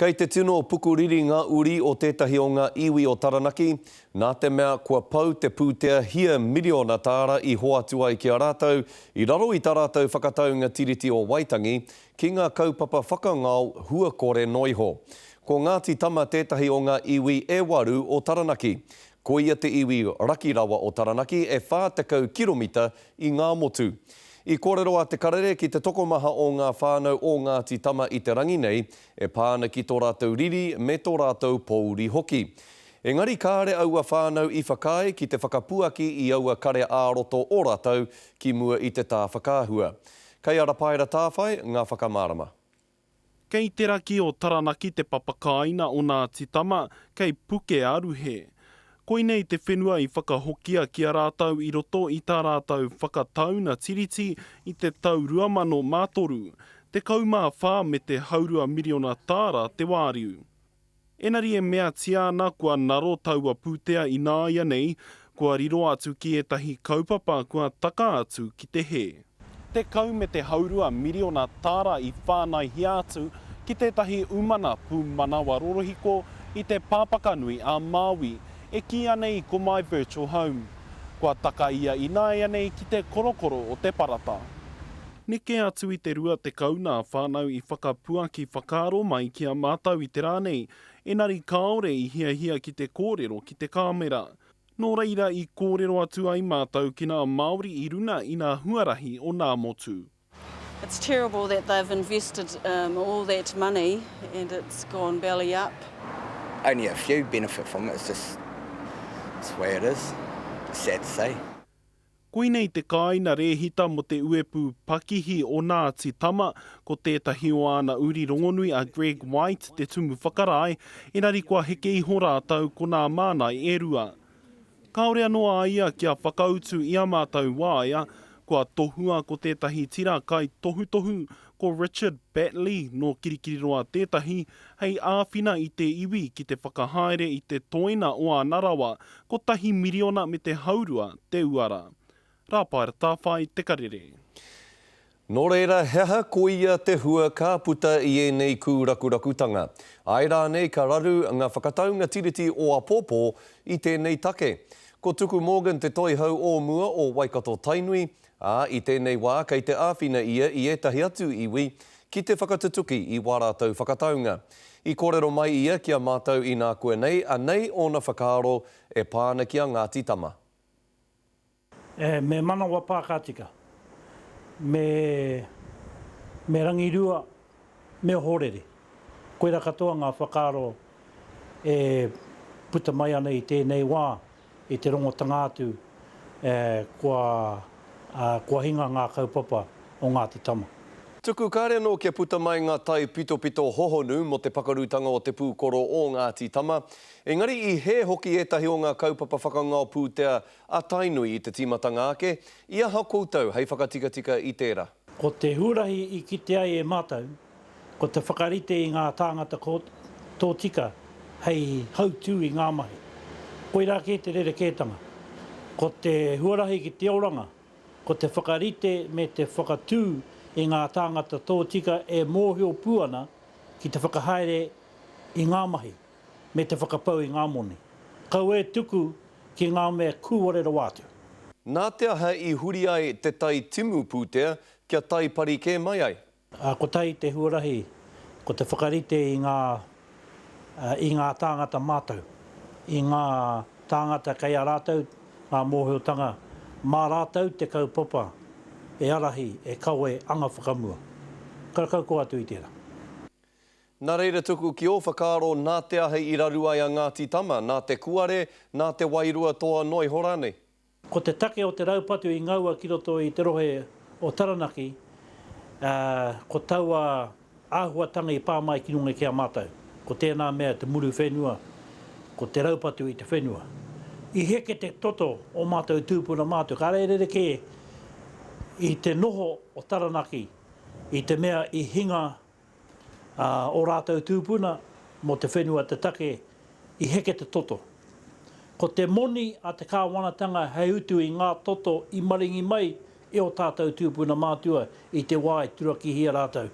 Kei te tino pukuriri ngā uri o tētahi o ngā iwi o Taranaki, nā te mea kua pau te pūtea hia miriona tāra i hoatu ai ki a rātou i raro i tā rātou whakataunga Tiriti o Waitangi ki ngā kaupapa whakangao hua kore noa iho. Ko Ngāti Tama tētahi o ngā iwi e waru o Taranaki. Ko ia te iwi raki rawa o Taranaki, e 40 kiromita i ngā motu. I kōrero a Te Karere ki te tokomaha o ngā whānau o Ngāti Tama i te rangi nei, e pā ana ki tō rātou riri me tō rātou pōuri hoki. Engari kāre aua whānau i whakaae ki te whakapuaki i aua kare ā-roto o rātou ki mua i te tā whakaahua. Kei a Rapaera Tāwhai ngā whakamārama. Kei te raki o Taranaki te papakāina o Ngāti Tama, kei Pukearuhe. Koinei te whenua i whakahokia ki a rātou i roto i tā rātou Whakatauna Tiriti i te tau 2003, 14 me te haurua miriona tāra te wāriu. Engari e meatia ana kua ngaro taua pūtea ināianei, kua riro atu ki ētahi kaupapa kua taka atu ki te hē. Tekau me te haurua miriona tāra i whānaihia atu ki tētahi umana pūmanawa rorohiko i te Pāpakanui ā Māui, e kīia nei ko My Virtual Home. Kua taka ia ināianei ki te korokoro o te parata. Neke atu i te 20 nā whānau i whakapuaki whakaaro mai ki a mātou i te rā nei, engari kāore i hiahia ki te kōrero ki te kāmera. Nō reira i kōrero atu ai mātou ki nā Māori i runga i nā huarahi o nā motu. It's terrible that they've invested all that money and it's gone belly up. Only a few benefit from it, it's just, it's the way it is. Sad to say. Koinei te kāina rēhita mō te uepū pakihi o Ngāti Tama, ko tētahi o āna uri rongonui a Greg White te tumu whakarae, engari kua heke iho rātou ko nā Mānai e rua. Kāore anō a ia kia whakautu i a mātou waea, kua tohua ko tētahi tira kai tohutohu Ko Richard Batley nō Kirikiriroa tētahi, hei āwhina i te iwi ki te whakahaere i te toina o ana rawa, kotahi miriona me te haurua te uara. Rāpaera Tāwhai te karere. Nō reira, he aha koia te hua ka puta i ēnei kūrakurakutanga? Āe rānei ka raru ngā whakataunga Tiriti o apōpō i tēnei take? Ko Tuku Morgan te toihau o mua o Waikato-Tainui, Ā, i tēnei wā kei te āwhina ia i ētahi atu iwi ki te whakatutuki i wā rātou whakataunga. I kōrero mai ia ki a mātou inā koe nei, anei ōna whakaaro e pā ana ki a Ngāti Tama. E, me manawa pākātika. Me, me rangirua Me ohorere. Koirā katoa ngā whakaaro e puta mai ana i tēnei wā, i te rongotanga atu kua hinga ngā kaupapa o Ngāti Tama. Tuku kare anō kia puta mai ngā taipitopito hohonu mō te pakarutanga o te pūkoro o Ngāti Tama, engari i hē hoki ētahi o ngā kaupapa whakangao pūtea a Tainui i te tīmatanga ake, i aha koutou hei whakatikatika i tērā? Ko te huarahi i kite ai e mātou, ko te whakarite i ngā tāngata tōtika hei hautū i ngā mahi. Koirā kē te rerekētanga. Ko te huarahi ki te oranga, ko te whakarite me te whakatū i ngā tāngata tōtika e mōhio pū ana ki te whakahaere i ngā mahi. me te whakapau i ngā moni. Kaua e tuku ki ngā mea kūware rawa atu. Nā te aha i huri ai te tai timu pūtea kia tai pari kē mai ai? Kotahi te huarahi ko te whakarite i ngā i ngā tāngata mātau, i ngā tāngata kei a rātau ngā mōhiotanga, mā rātau te kaupapa e arahi, e kawe anga whakamua. Karakau koa atu i tērā. Nā reira tuku ki ō whakaaro nā te ahe i raru ai a Ngāti Tama, nā te kuare, nā te wairua toa noa iho rānei. Ko te take o te raupatu i ngaua ki roto i te rohe o Taranaki, ā, ko taua āhuatanga i pā mai ki runga ki a mātou. Ko tēnā mea te muru whenua, ko te raupatu i te whenua. I heke te toto o mātou tūpuna mātou, kāre e rerekē i te noho o Taranaki i te mea i hinga Ā, ō rātou tūpuna mō te whenua te take i heke te toto. Ko te moni a te kāwanatanga hei utu i ngā toto i maringi mai e ō tātou tūpuna mātua i te wā e turakihia rātou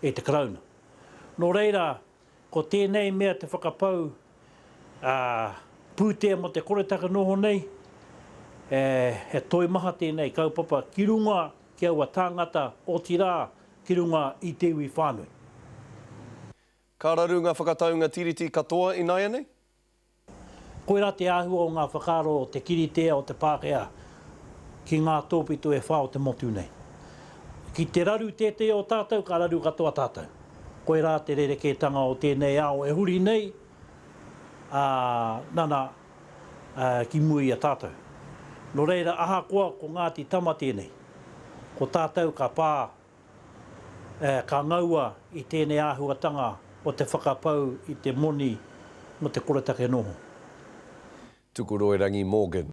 e te Karauna. Nō reira, ko tēnei mea te whakapau, ā, pūtea mō te koretake noho nei, ē, he toimaha tēnei kaupapa ki runga ki aua tāngata, otirā, ki runga i te iwi whānui. Ka raru ngā whakataunga Tiriti katoa ināianei? Koirā te āhua o ngā whakaaro o te kiritea o te Pākehā ki ngā tōpito e whā o te motu nei. Ki te raru tētehi o tātou, ka raru katoa tātou. Koirā te rerekētanga o tēnei ao e huri nei, ā, nana, ki mua i a tātou. Nō reira, ahakoa ko Ngāti Tama tēnei, ko tātou ka pā, ka ngaua i tēnei āhuatanga o te whakapau i te moni mō te koretake noho. Tukuroirangi Morgan.